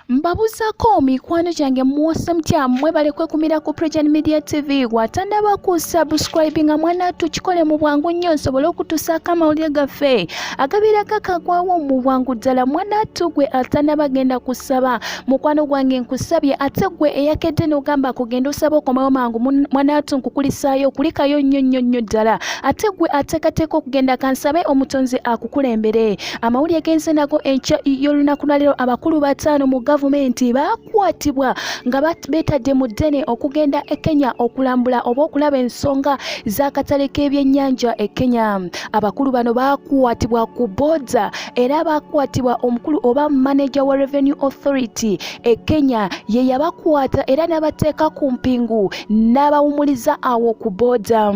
mbabuzako mikwano gyange muwasa mutya mwebale kwekumira ku prejan media tv watanaba ku subscribe nga mwana tukikole mu bwangu nnyo nsobole okutusaako amawulire gaffe agabirako akagwawo mu bwangu ddala mwana tu gwe atanaba genda kusaba mukwano gwange nkusabye ate gwe eyakedde nogamba kugenda osaba okomawo mangu mwana tu nkukulisaayo kulikayo nnyo nnyo nnyo ddala ate gwe atekateeka okugenda kansabe omutonzi akukulembere Amawulire genze nago enkya y'olunaku lwaleero abakulu bataano mu gavumenti baakwatibwa nga beetadde mu ddene okugenda e Kenya okulambula oba okulaba ensonga z'akatale k'ebyennyanja e Kenya. Abakulu bano baakwatibwa ku booda era baakwatibwa omukulu oba maneja wa Revenue Authority e Kenya ye yabakwata era n'abateeka ku mpingu n'abawumuliza awo ku booda.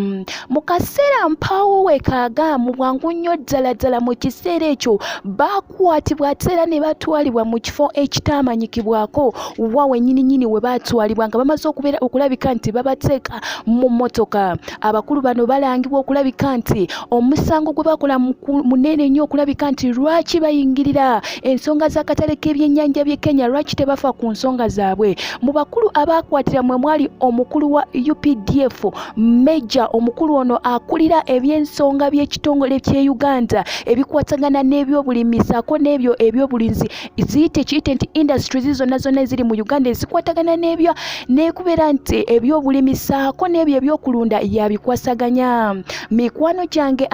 Mu kaseera mpaawo wekaaga mu bwangu nnyo ddala ddala mu kiseera ekyo baakwatibwa ate era ne batwalibwa mu kifo ekitaamanyikibwako wa wennyini nnyini we baatwalibwa nga bamaze okubeera okulabika nti babateeka mu mmotoka abakulu bano balangibwa okulabika nti omusango gwe bakola munene nnyo okulabika nti lwaki bayingirira ensonga z'akatale k'ebyennyanja by'e kenya lwaki tebafa ku nsonga zaabwe mu bakulu abaakwatira mwe mwali omukulu wa updf meja omukulu ono akulira eby'ensonga by'ekitongole ky'e uganda ebikwatagana n'ebyobulimi saako n'ebyo ebyobulinzi ziyite kiyite nti industries zonna zonna eziri mu uganda ezikwatagana n'ebyo nekubeera nti ebyobulimi saako n'ebyo ebyokulunda yabikwasaganya mikwano gyange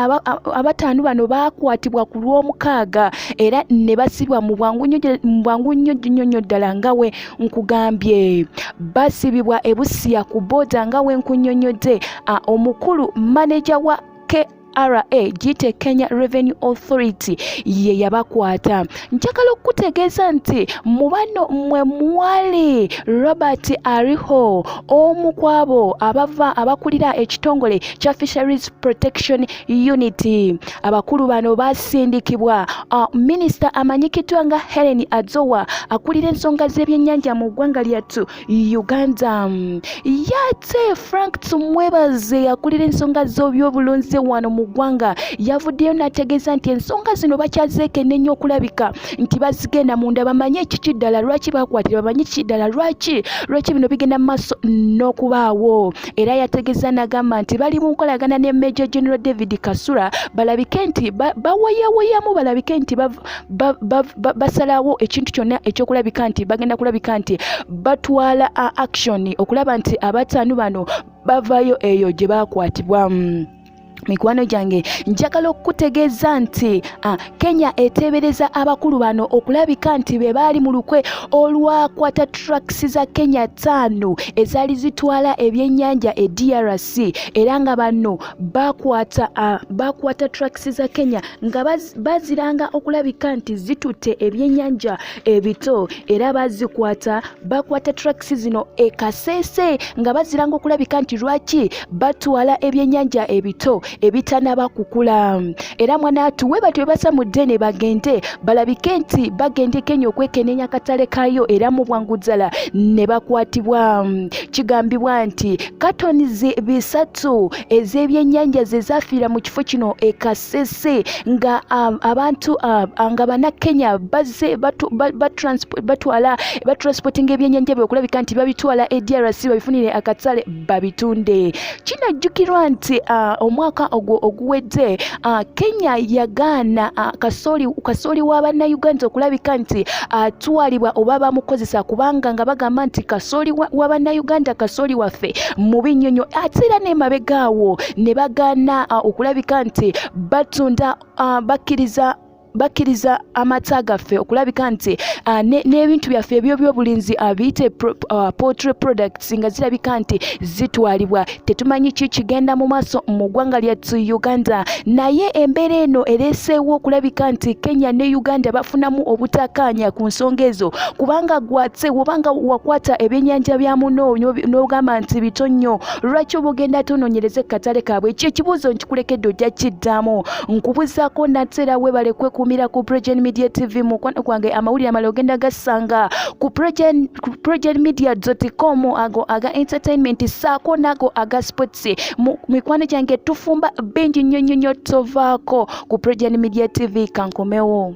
abataano bano baakwatibwa ku lw'omukaaga era ne basibwa mu bwangu nnyo nnyo ddala nga we nkugambye basibibwa ebusiya ku boda nga wenkunyonyodde omukulu maneja wa KRA gite Kenya Revenue Authority ye yabakwata njagala okukutegeeza nti mu bano mwe mwali Robert Ariho omu kwabo abava abakulira ekitongole kya Fisheries Protection Unit Abakulu bano baasindikibwa uh, minisita amanyikiddwa nga Helen Azowa akulira ensonga z'ebyennyanja mu ggwanga lyattu Uganda. Yate Frank Tumwebaze akulira ensonga z'obyobulunzi wano mu ggwanga yavuddeyo n'ategeeza nti ensonga zino bakyazeekenneenya okulabika nti bazigenda munda bamanye ekiki ddala lwaki baakwatira bamanye kiki ddala lwaki lwaki bino bigenda mu maaso n'okubaawo. era yategeza nagamba nti bali mu nkolagana ne Major General David Kasura balabike nti bawayawayamu balabike nti basalawo ekintu kyonna ekyokulabika nti bagenda kulabika nti batwala action okulaba nti abataanu bano bavayo eyo gye baakwatibwa mikwano gyange njagala okukutegeeza nti ah, kenya eteebereza abakulu bano okulabika nti be baali mu lukwe olwakwata traks za kenya ttaano ezaali zitwala ebyennyanja e drc era nga bano bakwata ah, bakwata traks za kenya nga baziranga okulabika nti zitutte ebyennyanja ebito era bazikwata bakwata tracks zino ekasese nga baziranga okulabika nti lwaki batwala ebyenyanja ebito ebitanaba kukula era mwanaatu we batyo bebasa mu ddene bagende balabike nti bagendeko enyo okwekenenya akatale kayo era mu bwangu ddala ne bakwatibwa kigambibwa nti katoni bisatu ez'ebyenyanja zezafiira mu kifo kino ekase sisi nga um, abantu uh, nga banakenya bazze batwala batransportinga ebyenyanja bye okulabika nti babitwala edrc babifunire akatale babitunde kinajjukirwa nti uh, omwaka ogwo oguwedde uh, kenya yagaana uh, kasooli kasooli wa bannayuganda okulabika nti atwalibwa uh, oba bamukozesa kubanga nga bagamba nti kasooli wa bannayuganda kasooli waffe mubi nnyonyo ate era n'emabegaawo ne bagaana uh, okulabika nti batunda uh, bakkiriza bakkiriza amata gaffe okulabika nti uh, n'ebintu byaffe ebyobyobulinzi uh, biyite uh, poultry products nga zirabika nti zitwalibwa tetumanyi ki kigenda mu maaso mu ggwanga lyattu uganda naye embeera eno ereeseewo okulabika nti kenya ne uganda bafunamu obutakaanya ku nsonga ezo kubanga gwatse obanga wakwata ebyennyanja bya muno n'ogamba nti bito nnyo lwaki obugenda tononyereze katale kaabwe ekyo ekibuuzo nkikulekedde ojja kiddamu nkubuzaako nateera webale kwekumira ku progen media tv mukwano gwange amawulire amala ogenda gasanga ku progen media com ago aga entertainment saako naago aga sports mu mikwano gyange tufumba bingi nnyo nnyo nnyo tovaako ku progen media tv kankomewo